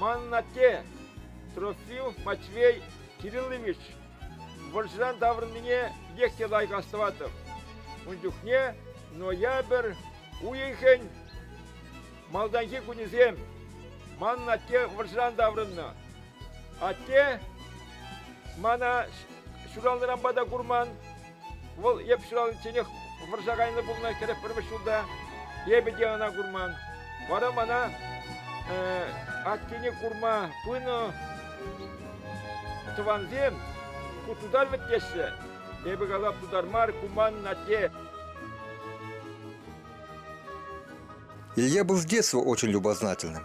Манӑн атте, Трofим Матвей Кириллович, вӑрҫӑран таврӑннине пекех те лайӑх астӑватӑп. Ун чухне ноябрь уйӑхӗн малтанхи кунӗсем. Манӑн атте вӑрҫӑран таврӑннӑ. Атте мана ҫуралнӑранпа та курман, Вӑл эп ҫураличченех вӑрҫа кайнӑ пулнӑ кӗрек пӗрмӗш ҫулта. Эпӗ те ӑна курман. Вара мана аттене курма пынӑ тӑвансем ку тутар вӗт теҫҫӗ. Эпӗ калап тутар мар, ку манӑн атте. Я был в детстве очень любознательным.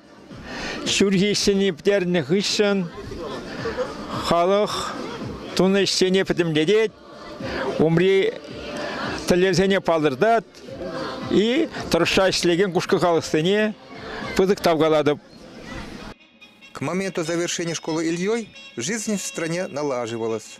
Ҫурхи ӗҫсене пӗтернӗ хыҫҫӑн халӑх тунӑ ӗҫсене пӗтӗмлетет, умри тӗллевсене палӑртать и тӑрӑшса ӗҫлекен кушкӑ халӑхсене пысӑк тав калатӑп. К моменту завершения школы Ильей жизнь в стране налаживалась.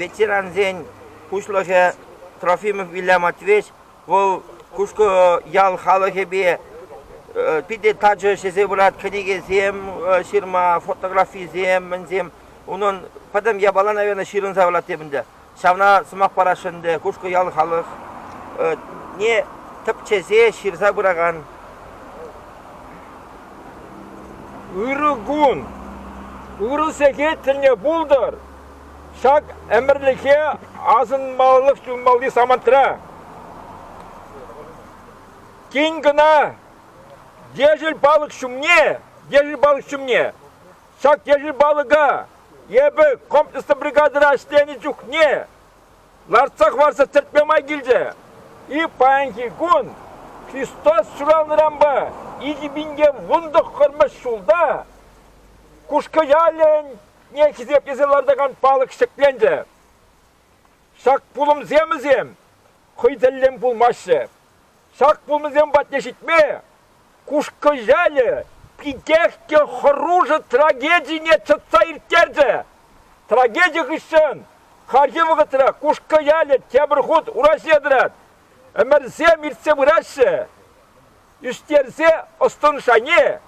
Ветерансен пуҫлӑхӗ Трофимов Илья Матвеевич вӑл Кушкӑ ял халӑхӗпе питӗ тачӑ ҫӗсе пырать. Кӗнекесем ҫырма, фотографисем, мӗнсем. Унӑн пӗтӗм япала, наверное, ҫырӑнса пырать теп ӗнтӗ. Ҫавна сӑмах параҫҫӗ ӗнтӗ Кушкӑ-ял халӑхне тӗпчесе ҫырса пыракан ырӑ кун, ырӑ сехет тӗлне пултӑр. Ҫак ӗмӗрлӗхе асӑнмаллах юлмалли самантра тин кӑна Дежель палӑк ҫумне, Дежель палӑк ҫумне Ҫак ешӗл палӑка эпӗ комплекслӑ бригадӑра ӗҫленӗ чухне лартса хӑварса тӗртме май килчӗ. И паянхи кун Христос ҫуралнӑранпа икӗ пин те вунтӑххӑрмӗш ҫулта Кушкӑ-ялӗне хисеплесе лартакан палӑк ҫӗкленчӗ. Ҫак пулӑмсемӗсем хӑй тӗллӗн пулмаҫҫӗ. Ҫак пулӑмсем патне ҫитме Кушкӑ ялӗ питех те хӑрушӑ трагедине чӑтса ирттерчӗ. Трагеди хыҫҫӑн хальхи вӑхӑтра Кушкӑ ялӗ тепӗр хут ураҫе тӑрать. Ӗмӗрсем иртсе пыраҫҫӗ. Ӳстерсе ӑс-тӑн шайне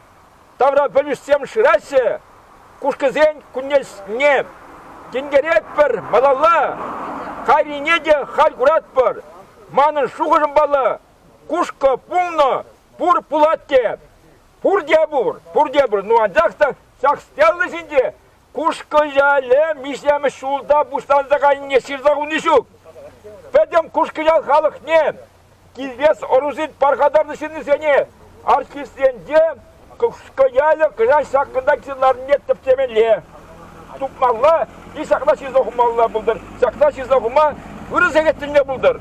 тавра пӗлӗшсем шыраҫҫӗ. Кушкӑсен кунне тинкеретпӗр малалла. Кайнине те халь куратпӑр. Манӑн шухӑшӑмпала, кушкӑ пулнӑ пур пулать те. Пурте пур, пурте пур. Ну анчах та ҫак стела ҫинче Кушкӑ-яле миҫемӗш ҫулта пуҫланса кайнине ҫырса хуни ҫук. Пӗтӗм Кушкӑ-ял халӑхне, килтес ӑрусен пархатарлӑ ҫыннисене, артистсенче Кушкӑ-ялӗ кӑҫал ҫакӑнта килсе ларнине тӗпчемелле. Тупмалла е ҫакна ҫырса хумалла пултӑр. Ҫакна ҫырса хума ырӑ сехет тӳлме пултӑр.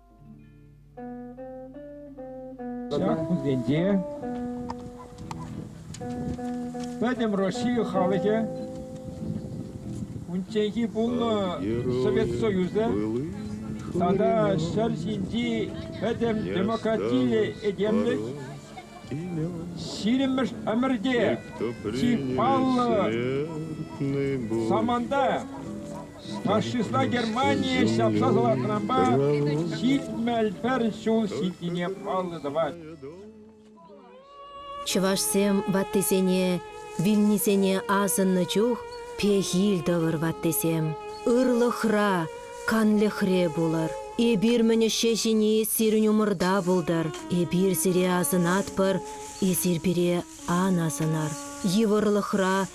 Яхпусенче пӗтӗм Россия халӑхӗ унчченхи пулнӑ Совет Союзӗ тата ҫӗр ҫинчи пӗтӗм демократилле этемлӗх ҫирӗммӗш ӗмӗрте чи паллӑ саманта Фашистла Германие ҫапса салатнӑпа ҫитмӗл пӗр ҫул ҫитнине паллӑ тӑвать. Чӑвашсем ваттисене, вилнисене асӑннӑ чух пехил тӑвӑр, ваттисем. Ырлӑхра, канлӗхре пулӑр. Эпир-мӗн ӗҫе ҫини сирӗн умӑрта пултӑр. Эпир сире асӑнатпӑр, эсир пире ан асӑнӑр. Йывӑрлӑхра